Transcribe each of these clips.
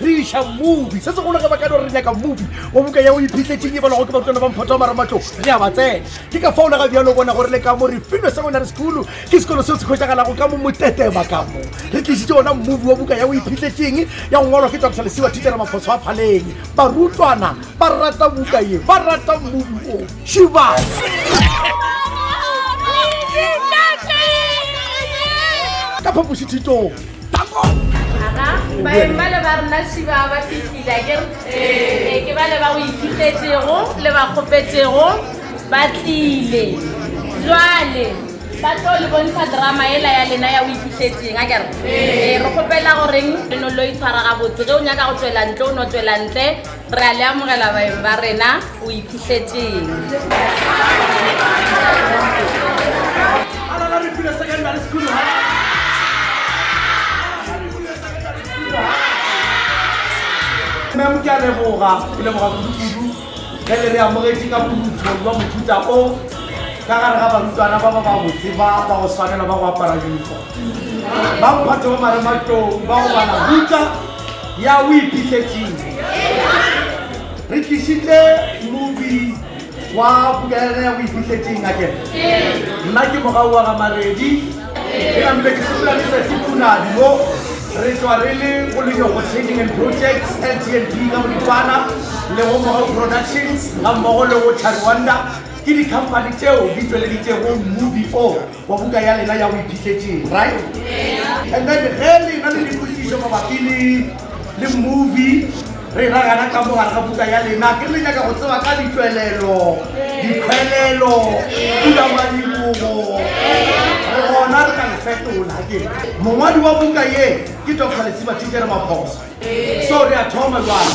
Re iša movie. Se segolo ge ba ka no re nyaka movie wa buka ya o iphitlhetšeng e balwago ke barutlwana ba mphoto wa maramatlong, re a ba tsena. Ke ka fao le ga bjalo o bona gore le ka mo re filwe Seminary School ke sekolo seo se hwetšagalago ka mo Motetema ka mo. Re tlišitše wona movie wa buka ya o iphitlhetšeng ya go ngwalwa ke Doctor Lesiwa Thitšhere Maphoso a Phaleng. Barutlwana ba rata buka ye, ba rata movie wo. Šibana! Ka phapošithitong Aha, baeng bale ba rena šiba ba fihlile a kere ee ke bale ba o ithutetsego le ba kgopetsego ba tlile jwale ba tlo le bontsha drama ela ya lena ya o ithutetseng a kere ee re kgopela goreng re no lo itshwara gabotse ge o nyaka go tswela ntle o no tswela ntle Re a le amogela baeng ba rena. O iphihletseng? Memo ke a leboga, ke leboga kudu-kudu ge le re amogetše ka phuthong jwa mohuta o ka gare ga barutwana ba ba babotse ba ba go swanela ba go apara uniform. Ba mphato ba marematlou ba go bala buka Ya o iphihletseng. Re tlišitše mobi wa puka ya rena ya o iphihletseng a kere. Nna ke mogau wa ga Maredi. Ke nampe ke sepela le Sesi Punadi mo. Re tšwa re le go Lenyogo Trading and Projects, LTNP ka boripana, le go Mogau Productions ga mmogo le go Chariwanda. Ke dikhamphani tšeo di tšweleditšego mobi o. Wa buka ya lena ya go iphitlhetšeng, right? Yeah. And then ge le na le dipotšišo mabapi le le movie re ra gana ka mo gare ga buka ya lena ke le nyaka go tseba ka ditšwelelo dikgwelelo buka wa dibogo re gona re ka le fetola ke mongwadi wa buka ye ke dr lesiba thikere maphoso so re a thoma jwale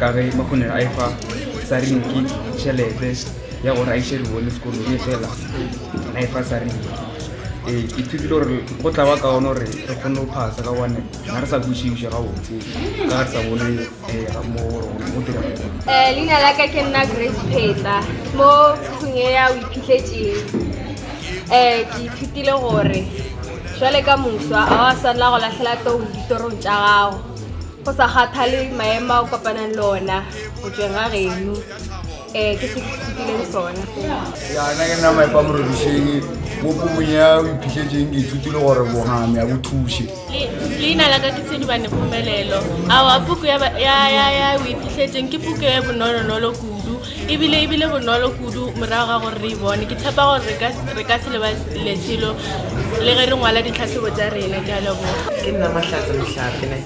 ka ge makgonere a efa sarinki tšhelete ya gore a iše ribone sekolo e fela a efa sarinki ee ke thutile gore go tla ba ka one gore re kgone go phasa ka gone ga re sa kwešiša ga botse ka ga re sa bone um mo go dira um leina la ka ke nna grace pheta mo kgong e ya o iphitlhetseng um eh, ke ithutile gore jwale ka moswa a wa swanela go latlhela tong ditorong tša gago go sa kgathale maemo a o kopanang le ona go tsweng ga geno um ke se ke ithutileng sona yana ke nna maepa morodišeng bopo monye a o iphitlhetseng ke ithutile gore bongame a bo thuše leina la ka ke tshedibane phumelelo ao a puku ya o iphitlhetseng ke puku e bonolonolo kudu ebile ebile bonolo kudu morago ga gore re e bone ke tshepa gore re ka re ka se leba leselo le ge re ngwala ditlhatlhobo tsa rena ke a leboga ke nna mahlatse mohlape ne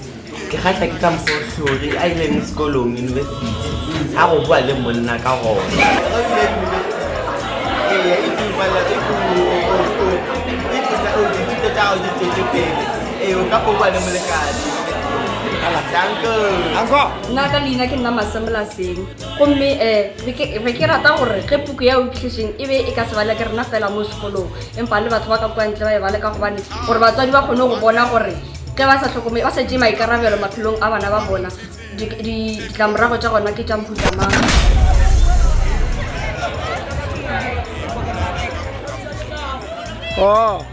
ke kgatlha ke ka mokgwa o tlhori a ileng sekolong university ga go boa le monna ka gona nna ka leina ke nna masemolaseng gomme um be ke rata gore ge puku ya okitlešeng e be e ka se bale ke rena fela mo sekolong empa le batho ba ka kwantle ba e bale ka gobane gore batswadi ba kgone go bona gore ge ba sa tlhokomele ba sa tee maikarabelo maphelong a bana ba bona ditlamorago tša gona ke tša mohuta mang Oh.